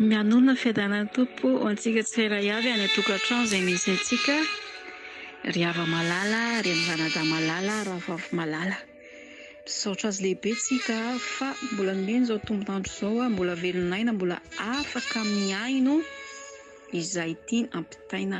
Mihainoana ny fiadanan'ny Tompo ho antsika tsirairay avy any an-tokantrano izay misy antsika, ry Ava malala, ry Ranadahy malala, Rahavavy malala. Misaotra Azy lehibe tsika fa mbola nomeny izao tombon'andro izao, mbola velon'aina, mbola afaka mihaino izay tiany ampitaina.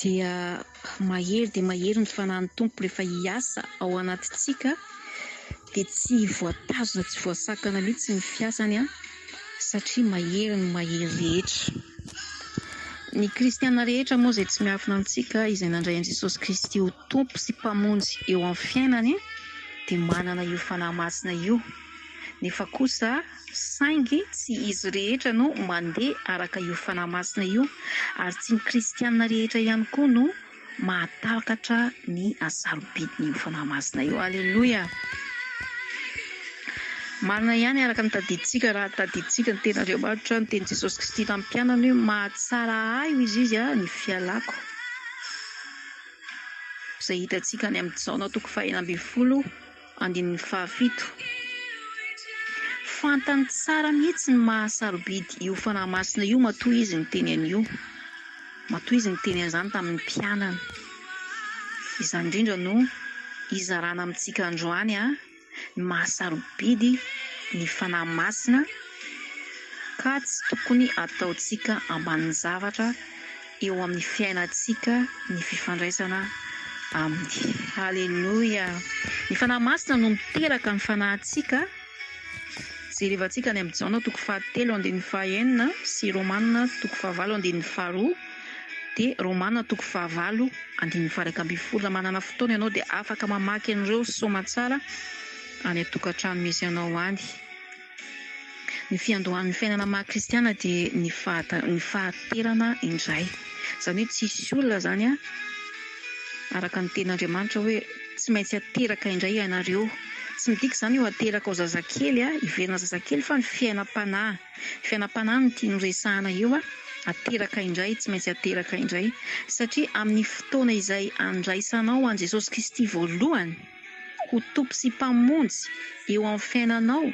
dia mahery dia mahery ny fanan'ny Tompo rehefa hiasa ao anatintsika dia tsy voatazona tsy voasakana mihitsy ny fiasany an satria mahery ny mahery rehetra ny kristiana rehetra moa izay tsy miafina antsika izay nandray an'i Jesosy Kristy ho Tompo sy Mpamonjy eo amin'ny fiainany dia manana io fanahy masina io nefa kosa Saingy tsy izy rehetra no mandeha araka io fanahy masina io, ary tsy ny kristiana rehetra ihany koa no mahatakatra ny hasarobidin'io fanahy masina io. Aleloia! Marina ihany araka ny tadidintsika, raha tadidintsika ny Tenin'Andriamanitra, ny tenin'i Jesosy Kristy tamin'ny mpianany hoe, Mahatsara ahy, hoy izy, izy ny fialako. Izay hitantsika any amin'ny Jaona toko fahenina ambin'ny folo. Andininy fahafito. Fantany tsara mihitsy ny maha sarobidy io Fanahy Masina io matoa izy niteny an'io, matoa izy niteny an'izany tamin'ny mpianany. Izany indrindra no hizarana amintsika androany a, ny maha sarobidy ny Fanahy Masina ka tsy tokony ataontsika ambanin-javatra, eo amin'ny fiainantsika ny fifandraisana Aminy. Aleloia! Ny Fanahy Masina no miteraka ny fanahintsika, jerevantsika any amin'ny Jaona toko fahatelo andininy fahaenina sy Romana toko fahavalo andininy faharoa, dia Romana toko fahavalo andininy faharaika ambin'ny folo. Raha manana fotoana ianao dia afaka mamaky an'ireo soamantsara any an-tokantrano misy anao any. Ny fiandohan'ny fiainana maha kristiana dia ny fahaterana indray. Izany hoe tsy hisy olona izany an, araka ny tenin'Andriamanitra hoe tsy maintsy ateraka indray ianareo. Tsy midika izany hoe ho ateraka ho zazakely an, hiverina zazakely fa ny fiainam-panahy. Fiainam-panahy no tiany ho resahana eo an, ateraka indray, tsy maintsy ateraka indray satria amin'ny fotoana izay andraisanao an'i Jesosy Kristy voalohany, ho Tompo sy Mpamonjy eo amin'ny fiainanao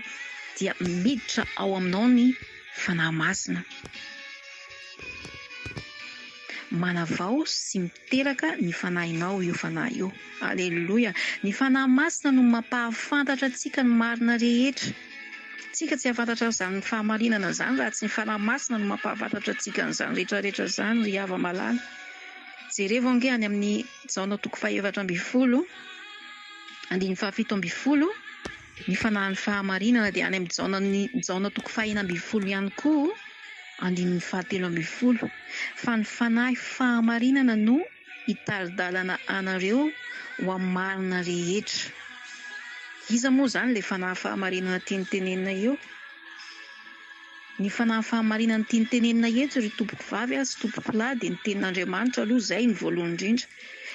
dia miditra ao aminao ny Fanahy Masina. Manavao sy miteraka ny fanahinao io Fanahy io. Aleloia! Ny Fanahy Masina no mampahafantatra antsika ny marina rehetra. Tsika tsy hahafantatra izany fahamarinana izany raha tsy ny Fanahy Masina no mampahafantatra antsika an'izany rehetra rehetra izany ry hava-malala. Jerevo ange any amin'ny. Jaona toko fahefatra ambin'ny folo, andininy fahafito ambin'ny folo, Ny fanahin'ny fahamarinana dia any amin'i Jaona ny Jaona toko fahenina ambin'ny folo ihany koa, andininy fahatelo ambin'ny folo, Fa ny fanahy fahamarinana no hitari-dalana anareo ho amin'ny marina rehetra. Iza moa izany ilay fanahy fahamarinana tiany tenenina eo? Ny fanahy fahamarinan'ny tiany tenenina eto ry tompoko vavy sy tompoko lahy dia ny tenin'Andriamanitra aloha izay no voalohany indrindra,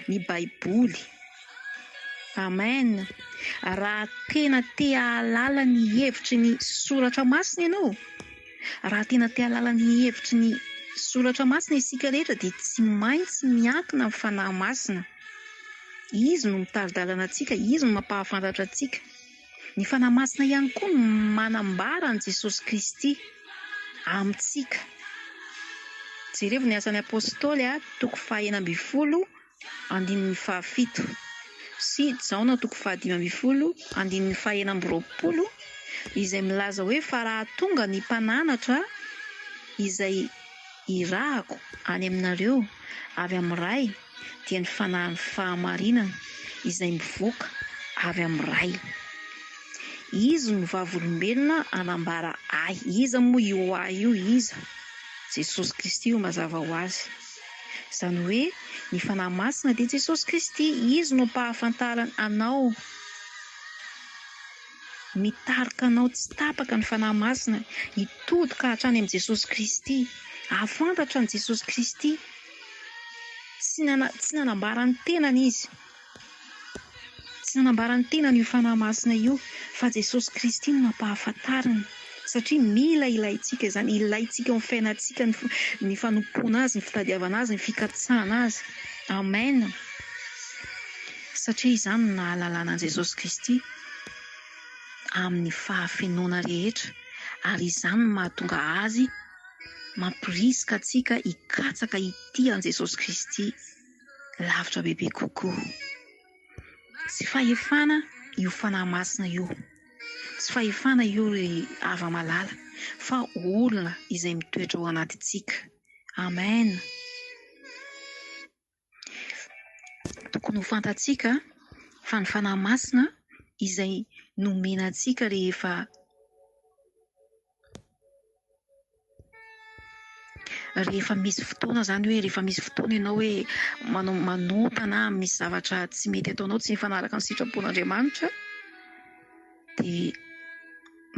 ny baiboly. Amen! Raha tena te hahalala ny hevitry ny soratra masina ianao, raha tena te hahalala ny hevitry ny soratra masina isika rehetra dia tsy maintsy miankina amin'ny fanahy masina. Izy no mitari-dalana antsika, izy no mampahafantatra antsika. Ny Fanahy Masina ihany koa no manambara an'i Jesosy Kristy amintsika. Jerevo ny Asan'ny Apostoly, toko fahenina ambin'ny folo, andininy fahafito, sy Jaona, toko fahadimy ambin'ny folo, andininy fahenina amby roapolo, izay milaza hoe, Fa raha tonga ny mpananatra izay irahako any aminareo avy amin'ny Ray, dia ny fanahin'ny fahamarinana izay mivoaka avy amin'ny Ray. Izy no vavolombelona hanambara ahy. Iza moa io ahy io? Iza? Jesosy Kristy io mazava ho azy. Izany hoe ny Fanahy Masina dia Jesosy Kristy. Izy no ampahafantarany anao. Mitarika anao tsy tapaka ny Fanahy Masina hitodika hatrany amin'i Jesosy Kristy. Hahafantatra an'i Jesosy Kristy. Tsy nana- tsy nanambara ny tenany izy. Tsy nanambara ny tenany io Fanahy Masina io fa Jesosy Kristy no nampahafantariny satria mila ilaintsika izany, ilaintsika eo amin'ny fiainantsika ny f- ny fanompoana Azy, ny fitadiavana Azy, ny fikatsahana Azy. Amen! Satria izany no nahalalana an'i Jesosy Kristy amin'ny fahafenoana rehetra ary izany no mahatonga Azy mamporisika antsika hikatsaka hitia an'i Jesosy Kristy lavitra bebe kokoa. Tsy fahefana io fanahy masina io, tsy fahefana io ry hava malala, fa olona izay mitoetra ao anatintsika. Amen. Tokony ho fantatsika fa ny Fanahy Masina izay nomena antsika rehefa rehefa misy fotoana izany hoe rehefa misy fotoana ianao hoe manao manota na misy zavatra tsy mety ataonao tsy mifanaraka ny sitrapon'Andriamanitra dia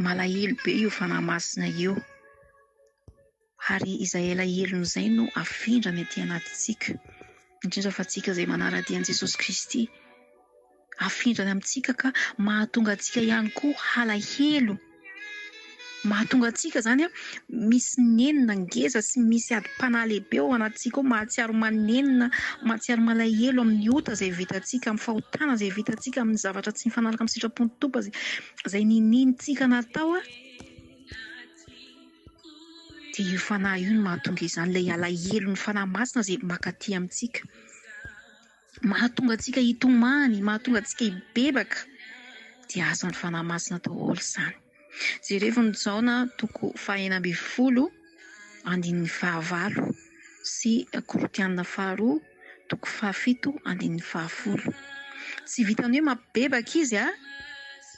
malahelo be io Fanahy Masina io. Ary izay elahelony izay no afindrany aty anatintsika, indrindra fa antsika izay manara-dia an'i Jesosy Kristy. Afindrany amintsika ka mahatonga antsika ihany koa halahelo. Mahatonga antsika izany misy nenina ngeza sy misy adim-panahy lehibe ao anatintsika ao, mahatsiaro manenina, mahatsiaro malahelo amin'ny ota izay vitantsika, amin'ny fahotana izay vitantsika, amin'ny zavatra tsy mifanaraka amin'ny sitrapon'ny Tompo izay niniantsika natao. Dia io Fanahy io no mahatonga izany, ilay alahelon'ny Fanahy Masina izay mankaty amintsika. Mahatonga antsika hitomany, mahatonga antsika hibebaka, dia asan'ny Fanahy Masina daholo izany. Jerevo ny Jaona toko fahenina ambin'ny folo andininy fahavalo sy Korintiana faharoa. toko fahafito andininy fahafolo. Tsy vitan'ny hoe mapibebaka izy a!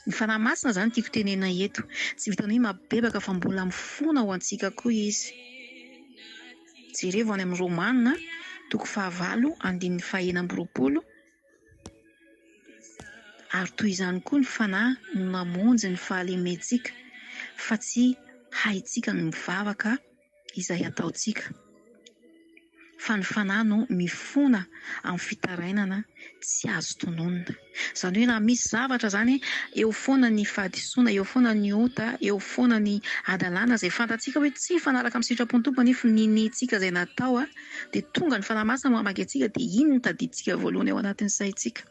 Ny Fanahy Masina izany tiako tenena eto. Tsy vitan'ny hoe mapibebaka fa mbola mifona ao antsika koa izy. Jerevo any amin'ny Romana toko fahavalo andininy fahena amby roapolo, ary toy izany koa ny Fanahy no namonjy ny fahalementsika fa tsy haintsika ny mivavaka. izay ataontsika fa ny fanahy no mifona amin'ny fitarainana tsy azo tononina. Izany hoe raha misy zavatra izany, eo foana ny fahadisoana, eo foana ny ota, eo foana ny hadalana izay fantatsika hoe tsy mifanaraka amin'ny sitrapon'ny Tompo anefa niniantsika izay natao dia tonga ny Fanahy Masina mamaky antsika dia iny no tadidintsika voalohany ao anatin'ny saintsika.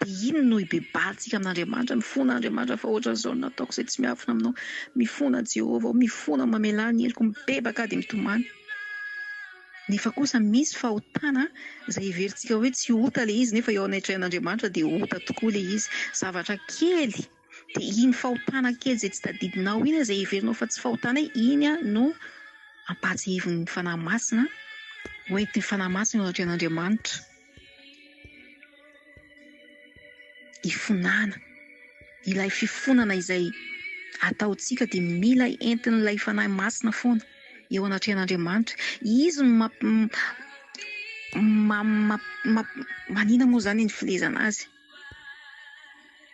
Dia iny no ibebahantsika amin'Andriamanitra, mifona Andriamanitra fa ohatran'izao no nataoko izay tsy miafina aminao, mifona Jehovah aho, mifona aho mamelà ny heloko, mibebaka aho dia mitomany. Nefa kosa misy fahotana izay heverintsika hoe tsy ota ilay izy nefa eo anatrehan'Andriamanitra dia ota tokoa ilay izy, zavatra kely. dia iny fahotana kely izay tsy tadidinao iny izay heverinao fa tsy fahotana iny no ampahatsiahivin'ny Fanahy Masina ho entin'ny Fanahy Masina eo anatrehan'Andriamanitra hifonana ilay fifonana izay ataontsika dia mila entin'ilay Fanahy Masina foana eo anatrehan'Andriamanitra izy no mamp- manina moa izany ny filezana azy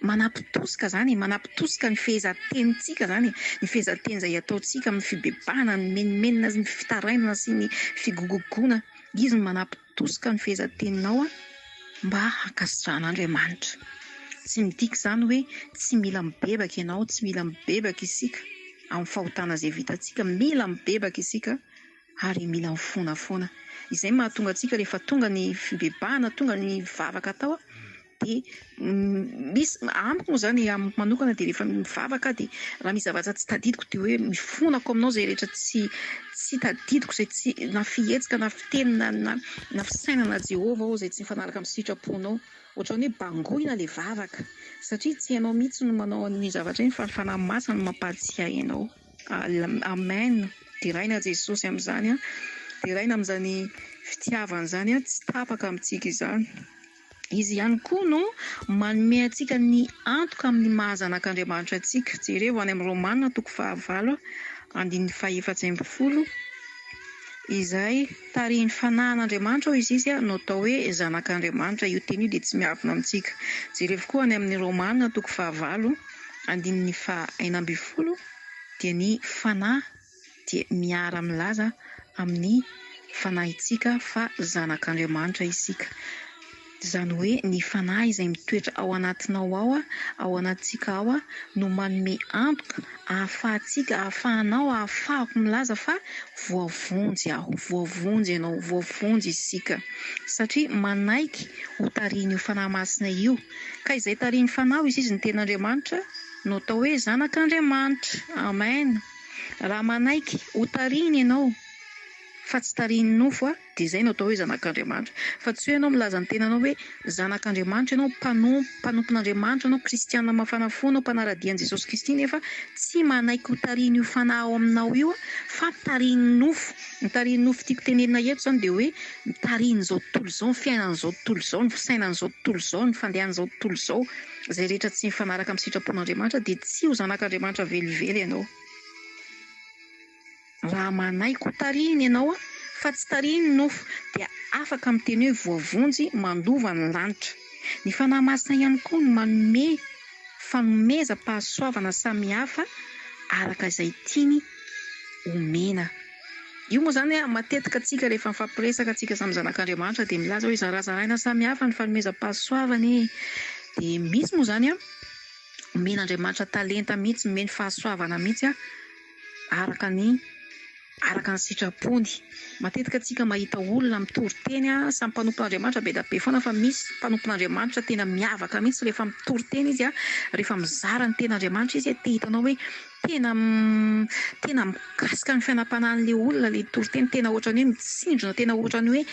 Manapitosika izany e, manapitosika ny fehezan-tenintsika izany e, ny fehezan-teny izay ataontsika amin'ny fibebahana, ny mimenomenona sy ny fitarainana sy ny figogogoana. Izy no manapitosika ny fehezan-teninao mba hankasitrahan'Andriamanitra. Tsy midika izany hoe tsy mila mibebaka ianao, tsy mila mibebaka isika amin'ny fahotana izay vitantsika. Mila mibebaka isika ary mila mifoana foana. Izay no mahatonga antsika rehefa tonga ny fibebahana, tonga ny vavaka atao dia misy, amiko moa izany, amiko manokana dia rehefa mivavaka aho dia raha misy zavatra tsy tadidiko dia hoe mifonako aminao izay rehetra tsy tsy tadidiko, izay tsy, na fihetsika na fiteny na na na fisainana Jehovah aho izay tsy mifanaraka amin'ny sitraponao. Ohatran'ny hoe bangoina ilay vavaka satria tsy ianao mihitsy no manao an'iny zavatra iny fa ny Fanahy Masina no mampahatsiahy anao. Amen! Deraina Jesosy amin'izany an! Deraina amin'izany fitiavany izany an! Tsy tapaka amintsika izany! Izy ihany koa no manome antsika ny antoka amin'ny maha zanak'Andriamanitra antsika. Jereo any amin'ny Romana toko fahavalo andininy fahefatsy ambin'ny folo izay tarihin'ny fanahin'Andriamanitra hoy izy izy no atao hoe zanak'Andriamanitra. Io teny io dia tsy miavona amintsika. Jerevo koa any amin'ny Romana toko fahavalo. Andininy faha enina ambin'ny folo dia ny Fanahy dia miara-milaza amin'ny fanahintsika fa zanak'Andriamanitra isika. Izany hoe ny Fanahy izay mitoetra ao anatinao ao, ao anatintsika ao, no manome antoka ahafahantsika, ahafahanao, ahafahako milaza fa voavonjy aho, voavonjy ianao, voavonjy isika. Satria manaiky ho tarihin'io Fanahy Masina io. Ka izay tarihin'ny Fanahy izy izy ny tena Andriamanitra no atao hoe zanak'Andriamanitra. Amen. Raha manaiky ho tarihiny ianao fa tsy tarihin'ny nofo a, dia izay no atao hoe zanak'Andriamanitra. Fa tsy hoe ianao milaza ny tenanao hoe zanak'Andriamanitra ianao, mpanompo, mpanompon'Andriamanitra anao, kristiana mafana fo anao, mpanara-dia an'i Jesosy Kristy nefa tsy manaiky ho tarihin'io Fanahy ao aminao io fa tarihin'ny nofo. Ny tarihin'ny nofo tiako tenenina eto izany dia hoe. mitarihin'izao tontolo izao, ny fiainan'izao tontolo izao, ny fisainan'izao tontolo izao, ny fandehan'izao tontolo izao, izay rehetra tsy mifanaraka amin'ny sitrapon'Andriamanitra dia tsy ho zanak'Andriamanitra velively ianao. Raha manahy koa tarihiny ianao fa tsy tarihiny ny nofo dia afaka miteny hoe voavonjy mandova ny lanitra. Ny Fanahy Masina ihany koa no manome fanomezam-pahasoavana samihafa araka izay tiany omena. Io moa izany hoe matetika antsika rehefa mifampiresaka antsika samy zanak'Andriamanitra dia milaza hoe zarazaraina samihafa ny fanomezam-pahasoavany dia misy moa izany omen'Andriamanitra talenta mihitsy, omeny fahasoavana mihitsy araka ny araka ny sitrapony. Matetika antsika mahita olona mitory teny samy mpanompon'Andriamanitra be dia be foana fa misy mpanompon'Andriamanitra tena miavaka mihitsy rehefa mitory teny izy, rehefa mizara ny tenin'Andriamanitra izy dia hitanao hoe Tena tena mikasika ny fiainam-panahin'ilay olona ilay toriteny, tena ohatran'ny hoe mitsinjona, tena ohatran'ny hoe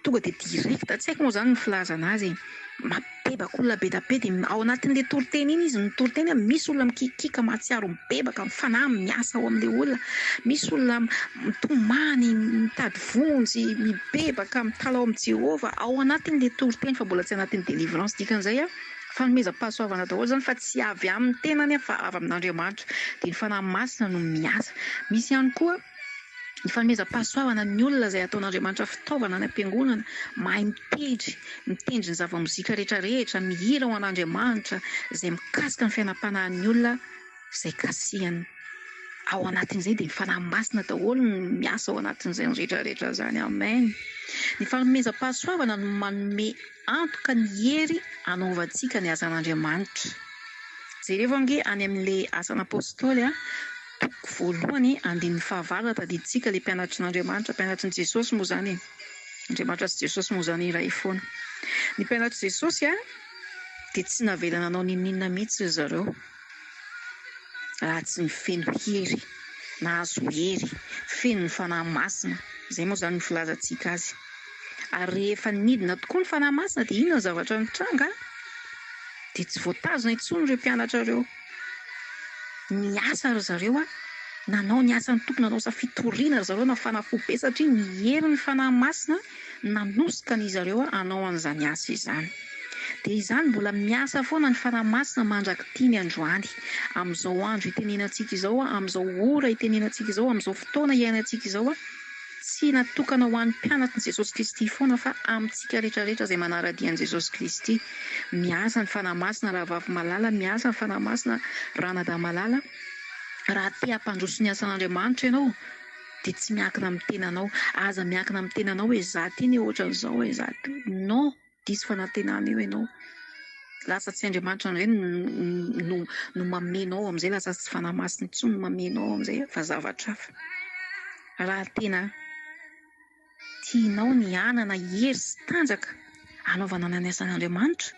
tonga dia direct, tsy haiko moa izany ny filazana azy e, mibebaka olona be dia be dia ao anatin'ilay toriteny iny izy mitory tena, misy olona mikiakiaka mahatsiaro mibebaka, ny fanahy miasa ao amin'ilay olona, misy olona mitomany, mitady vonjy, mibebaka, mitalaho amin'i Jehovah ao anatin'ilay toriteny fa mbola tsy anatin'ny délivrance dikan'izay aho. Fanomezam-pahasoavana daholo izany fa tsy avy amin'ny tenany aho fa avy amin'Andriamanitra. Dia ny Fanahy Masina no miasa. Misy ihany koa ny fanomezam-pahasoavana ny olona izay ataon'Andriamanitra fitaovana any am-piangonana, mahay mitendry, mitendry ny zava-mozika rehetra rehetra, mihira ho an'Andriamanitra, izay mikasika ny fiainam-panahin'ny olona izay kasihany. Ao anatin'izay dia ny Fanahy Masina daholo no miasa ao anatin'izany rehetra rehetra izany. Amen. Ny fanomezam-pahasoavana no manome. Antoka ny hery anaovantsika ny asan'Andriamanitra. Jerevo ange any amin'ilay Asan'ny Apostoly a, toko voalohany andininy fahavalo raha tadidintsika ilay mpianatry n'Andriamanitra, mpianatry n'i Jesosy moa izany e, Andriamanitra sy Jesosy moa izany iray foana. Ny mpianatr'i Jesosy a, dia tsy navela nanao n'inon'inona mihitsy ry zareo. raha tsy ny feno hery, nahazo hery, feno ny Fanahy Masina, izay moa izany no filazantsika azy. Ary rehefa nidina tokoa ny Fanahy Masina dia inona ny zavatra nitranga? Dia tsy voatazona intsony ireo mpianatra ireo. Niasa ry zareo, nanao ny asan'ny tompony, nanao asa fitoriana ry zareo, nafana fo be satria ny herin'ny Fanahy Masina Nanosika an'izy ireo hanao an'izany asa izany. Dia izany, mbola miasa foana ny Fanahy Masina mandrak'ity ny androany, amin'izao andro itenenantsika izao, amin'izao ora itenenantsika izao, amin'izao fotoana iainantsika izao, tsy natokana ho an'ny mpianatr'i Jesosy Kristy foana fa amintsika rehetrarehetra izay manara-dia an'i Jesosy Kristy. Miasa ny Fanahy Masina Rahavavy Malala, miasa ny Fanahy Masina Ranadahy Malala, raha te hampandroso ny asan'Andriamanitra ianao. dia tsy miankina amin'ny tenanao. Aza miankina amin'ny tenanao hoe izaho ity anie ohatran'izao e, izaho ity. Non, diso fanantenana io ianao. Lasa tsy Andriamanitra indray no no no mameno ao amin'izay, lasa tsy Fanahy Masina intsony no mameno ao amin'izay fa zavatra hafa. Raha tena tianao ny hanana hery sy tanjaka hanaovanana ny asan'Andriamanitra,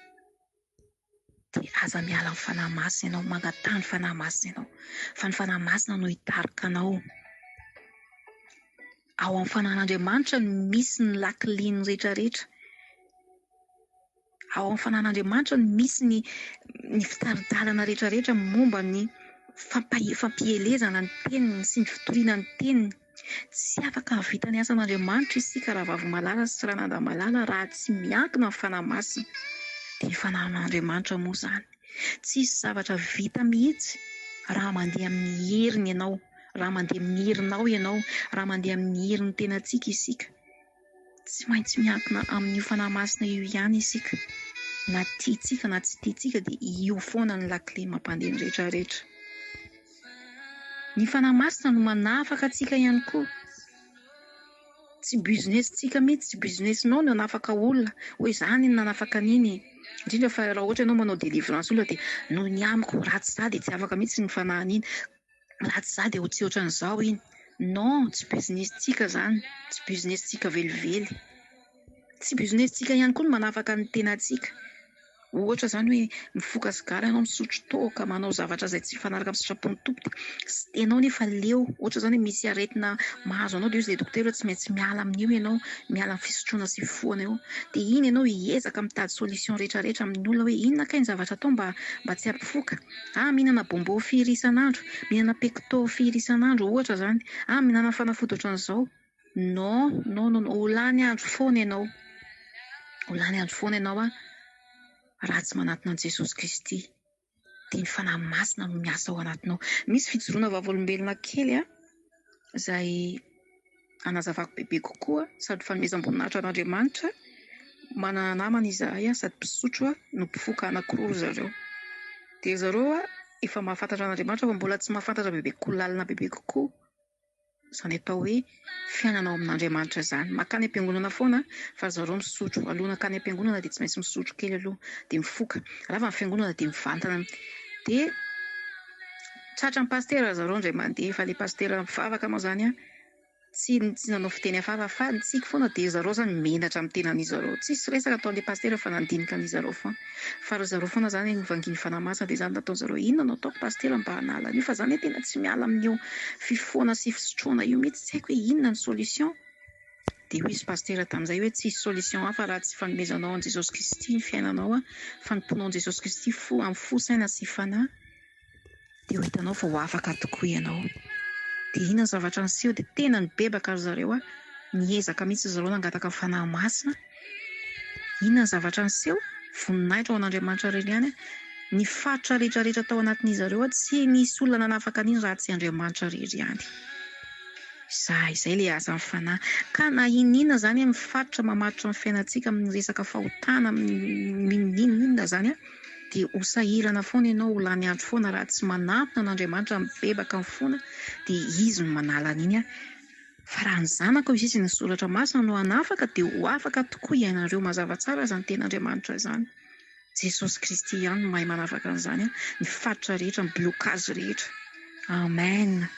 dia aza miala amin'ny Fanahy Masina ianao, mangataha ny Fanahy Masina ianao, fa ny Fanahy Masina no hitarika anao. Ao amin'ny Fanan'Andriamanitra no misy ny lakiliny rehetra rehetra. Ao amin'ny Fanan'Andriamanitra no misy ny ny fitari-dalana rehetra rehetra momba ny fampahe- fampielezana ny teniny sy ny fitoriana ny teniny. Tsy afaka hahavita ny asan'Andriamanitra isika Ravavomalahala sy Ranadamalala raha tsy miankina amin'ny Fanahy Masina. Dia Fanahin'Andriamanitra moa izany. Tsisy zavatra vita mihitsy raha mandeha amin'ny heriny ianao, raha mandeha amin'ny herinao ianao, raha mandeha amin'ny herin'ny tenantsika isika. Tsy maintsy miankina amin'io Fanahy Masina io ihany isika, na tiantsika na tsy tiantsika dia io foana no lakile mampandeha ny rehetra rehetra. Ny Fanahy Masina no manafaka antsika ihany koa. Tsy business-tsika mihitsy, tsy business-nao ny hanafaka olona hoe izaho anie no nanafaka an'iny e! indrindra fa raha ohatra ianao manao délivrance olona dia noho ny amiko raha tsy izaho dia tsy afaka mihitsy ny Fanahin'iny. Raha tsy za dia ho tsy otran'izao iny. Non, tsy business tsika zany, tsy business tsika velively. Tsy business tsika ihany koa ny manafaka ny tenantsika. Ohatra zany hoe mifoka sigara ianao, misotro toaka, manao zavatra izay tsy mifanaraka amin'ny sitrapon'ny Tompo dia tsy tianao nefa leo. Ohatra zany hoe misy aretina mahazo anao dia hoy izay dokotera hoe tsy maintsy miala amin'io ianao, miala amin'ny fisotroana sy fifohana io. Dia iny ianao hiezaka mitady solution rehetra rehetra amin'ny olona hoe inona kay ny zavatra atao mba mba tsy hampifoka. Ah, mihinana bonbon firy isan'andro? Mihinana pecto firy isan'andro? Ohatra izany. Ah, mihinana fanafody ohatran'izao. Non, non, non, ho lany andro foana ianao. Ho lany andro foana ianao an, raha tsy manatona an'i Jesosy Kristy. Dia ny Fanahy Masina no miasa ao anatinao. Misy fijoroana vavolombelona kely an, izay. hanazavako bebe kokoa sady fanomezam-boninahitra an'Andriamanitra manana namana izahay sady mpisotro no mpifoka anankiroa ry zareo. Dia ry zareo efa mahafantatra an'Andriamanitra fa mbola tsy mahafantatra bebe kokoa, lalina bebe kokoa izany atao hoe fiainana ao amin'Andriamanitra izany. Mankany am-piangonana foana fa ry zareo misotro. Alohan'ny hankany am-piangonana dia tsy maintsy misotro kely aloha dia mifoka. Rava ny fiangonana dia mivantana. Dia. Tratra ny pasitera zareo indray mandeha fa le pasitera mpivavaka moa zany tsy tsy nanao fiteny hafahafa fa ny tsiky foana dia zareo zany menatra amin'ny tenan'izy zareo tsisy resaka ataon'le pasitera fa nandinika an'izy zareo foana fa ry zareo foana zany no vangin'ny fanahy masina dia zany nataon'izy zareo inona no ataoko pasitera mba hanala an'io fa za anie tena tsy miala amin'io fifohana sy fisotroana io mihitsy tsy haiko hoe inona ny solution dia hoy izy pasitera tamin'izay hoe tsisy solution hafa raha tsy fanomezanao an'i Jesosy Kristy ny fiainanao fa ny mponao an'i Jesosy Kristy fo amin'ny fo saina sy fanahy dia ho hitanao fa ho afaka tokoa ianao. Dia iny ny zavatra niseho dia tena nibebaka ry zareo an! Niezaka mihitsy ry zareo nangataka ny Fanahy Masina. Inona ny zavatra niseho? Voninahitra ho an'Andriamanitra irery ihany an! Ny faritra rehetra rehetra tao anatin'izy ireo tsy nisy olona nanafaka an'iny raha tsy Andriamanitra irery ihany. Izay, izay ilay asan'ny Fanahy. Ka na inona inona izany amin'ny faritra mamaritra ny fiainantsika amin'ny resaka fahotana, amin'ny inona inona izany an! Dia ho sahirana foana ianao, ho lany andro foana raha tsy manantona an'Andriamanitra, mibebaka ny fona, dia Izy no manala an'iny an. Fa raha ny zanakao izay izay ny Soratra Masina no hanafaka dia ho afaka tokoa hiainanareo mazava tsara izany Tenin'Andriamanitra izany. Jesosy Kristy ihany no mahay manafaka an'izany an, ny faritra rehetra, ny blocage rehetra. Amen.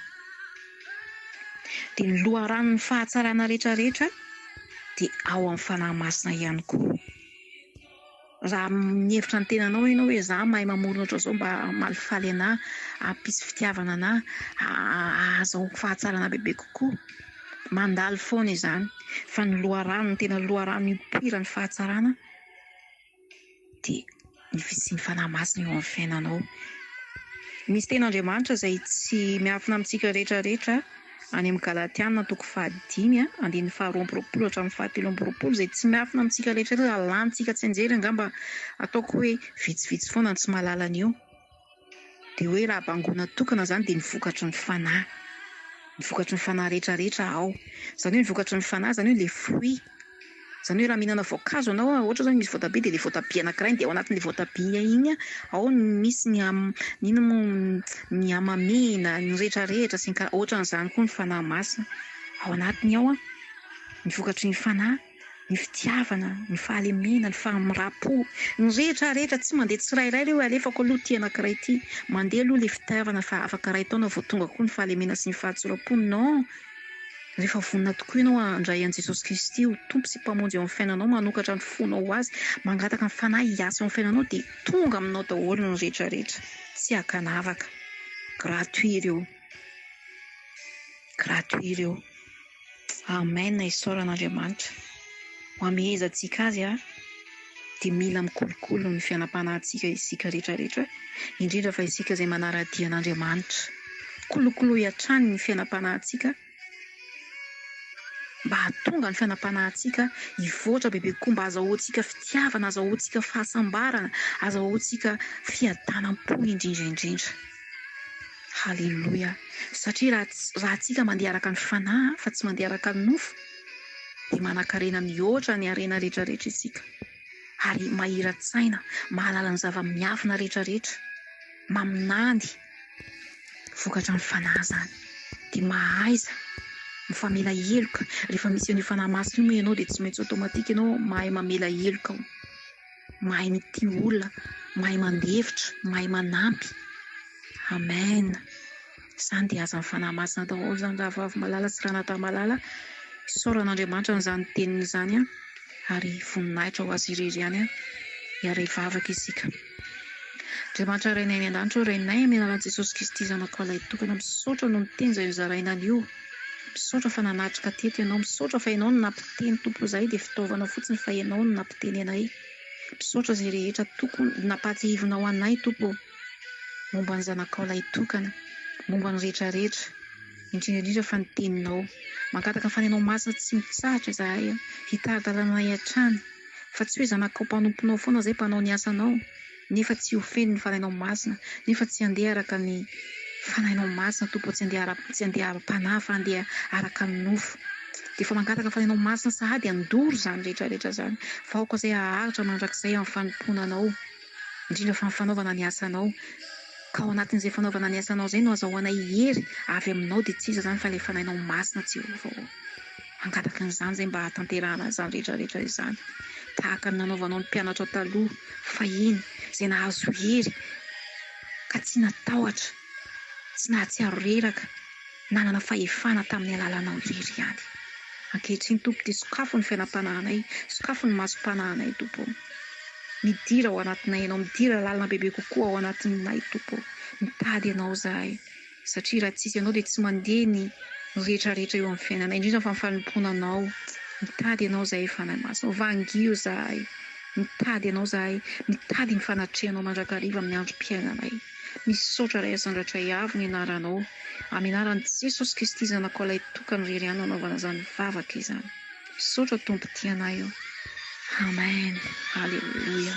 Dia ny loharanon'ny fahatsarana rehetra rehetra dia ao amin'ny Fanahy Masina ihany koa. Raha mihevitra ny tenanao ianao hoe za mahay mamorona ohatran'izao mba hamalifaly anah, hampisy fitiavana anah, hahazahoako fahatsarana bebe kokoa, mandalo foana izany fa ny loharano, ny tena loharano ipoiran'ny fahatsarana dia ny fisian'ny Fanahy Masina eo amin'ny fiainanao. Misy tenin'Andriamanitra izay tsy miafina amintsika rehetra rehetra Any amin'ny Galatiana toko fahadimy andininy faharoa amby roapolo hatramin'ny fahatelo amby roapolo izay tsy miafina amintsika rehetra eto raha lanintsika tsy anjery angamba ataoko hoe vitsivitsy foana ny tsy mahalala an'io dia hoe raha bangoina tokana izany dia ny vokatry ny fanahy ny vokatry ny fanahy rehetra rehetra ao izany hoe ny vokatry ny fanahy izany hoe ilay fruit Izany hoe raha mihinana voankazo ianao, ohatra izao misy voatabia dia ilay voatabia anakiray dia ao anatin'ilay voatabia iny ao no misy ny ino moa ny hamamiana, ny rehetrarehetra sy ny kara-, ohatran'izany koa ny Fanahy Masina, ao anatiny ao ny vokatry ny Fanahy, ny fitiavana, ny fahalemena, ny fahamiram-po, ny rehetrarehetra tsy mandeha tsirairay ireo hoe alefako aloha ity anakiray ity, mandeha aloha ilay fitiavana fa afaka iray taona vao tonga koa ny fahalemena sy ny fahatsoram-po, non! Rehefa vonona tokoa ianao handray an'i Jesosy Kristy ho Tompo sy Mpamonjy eo amin'ny fiainanao, manokatra ny fonao ho Azy, mangataka ny Fanahy hiasa eo amin'ny fiainanao, dia tonga aminao daholo ny rehetrarehetra. Tsy ankanavaka. Gratuit ireo. Gratuit ireo. Amen, isaoran'Andriamanitra ho hamehezantsika Azy an. dia mila mikolokolo ny fianam-panahintsika isika rehetrarehetra, indrindra fa isika izay manara-dia an'Andriamanitra. Kolokoloy hatrany ny fiainam-panahintsika mba hahatonga ny fiainam-panahintsika hivoatra bebe kokoa, mba hahazahoantsika fitiavana, hahazahoantsika fahasambarana, hahazahoantsika fiadanam-po indrindra indrindra. Haleloia! Satria raha tsy, raha tsika mandeha araka ny fanahy fa tsy mandeha araka ny nofo, dia manankarena mihoatra ny harena rehetrarehetra isika, ary mahira-tsaina, mahalala ny zava-miafina rehetrarehetra, maminany, vokatra ny Fanahy izany, dia mahaiza mifamela heloka, rehefa misy an'io Fanahy Masina io moa ianao dia tsy maintsy automatique ianao mahay mamela heloka ao. mahay mitia olona, mahay mandefitra, mahay manampy. Amen! Izany dia azan'ny Fanahy Masina daholo izany rahavavy malala sy ranadahy malala. Isaorana Andriamanitra an'izany teniny izany ary voninahitra ho Azy irery ihany hiara hivavaka isika. Andriamanitra Rainay any an-danitra ô, Rainay amin'ny alalan'i Jesosy Kristy Zanakao Lahitokana, misaotra noho ny teny izay nozaraina anio. Misaotra fa nanatrika teto ianao, misaotra fa ianao no nampiteny Tompo izahay dia fitaovana fotsiny fa ianao no nampiteny anay, misaotra izay rehetra tokony nampahatsiahivinao anay Tompo ô, momba ny zanakao lahitokana, momba ny rehetra rehetra, indrindra indrindra fa ny teninao, mangataka fa ny anao masina tsy mitsahatra izahay an, hitari-dalana anay hatrany, fa tsy hoe zanakao mpanomponao foana izahay mpanao ny asanao. nefa tsy ho feno ny Fanahinao Masina, nefa tsy handeha araka ny Fanahinao Masina Tompo ô, tsy handeha ara, tsy handeha ara-panahy fa handeha araka ny nofo, dia efa mangataka ny Fanahinao Masina sahady handoro izany rehetra rehetra izany, fa aoka izay haharitra mandrakizay amin'ny fanompoana Anao, indrindra fa ny fanaovana ny asanao, ka ao anatin'izay fanaovana ny asanao izay no azahoanay hery avy Aminao, dia tsy iza izany fa ilay Fanahinao Masina Jehovah ô. Mangataka an'izany izay mba hahatanterahana an'izany rehetra rehetra izany, tahaka ny nanaovanao ny mpianatra taloha fahiny, izay nahazo hery ka tsy natahotra, tsy nahatsiaro reraka, nanana fahefana tamin'ny alalanao irery ihany. Ankehitriny, Tompo dia sokafo ny fiainam-panahinay, sokafo ny masom-panahinay, Tompo ô. Midira ao anatinay Ianao, midira lalina bebe kokoa ao anatinay, Tompo ô. Mitady Anao izahay. satria raha tsisy anao dia tsy mandeha ny retraretra eo amin'ny fiainanay indrindra fa ny fanompoana anao mitady ianao zahay fanahy masina vangio zahay mitady ianao zahay mitady ny fanatrehanao mandrakariva amin'ny androm-piainanay misaotra ray asandratra iavo ny anaranao amin'ny anaran'i jesosy kristy zanakao ilay tokany rery any nanaovana izany vavaka izany misaotra tompo tianay eo amen aleloia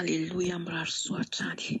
Haleloia mirary soa hatrany.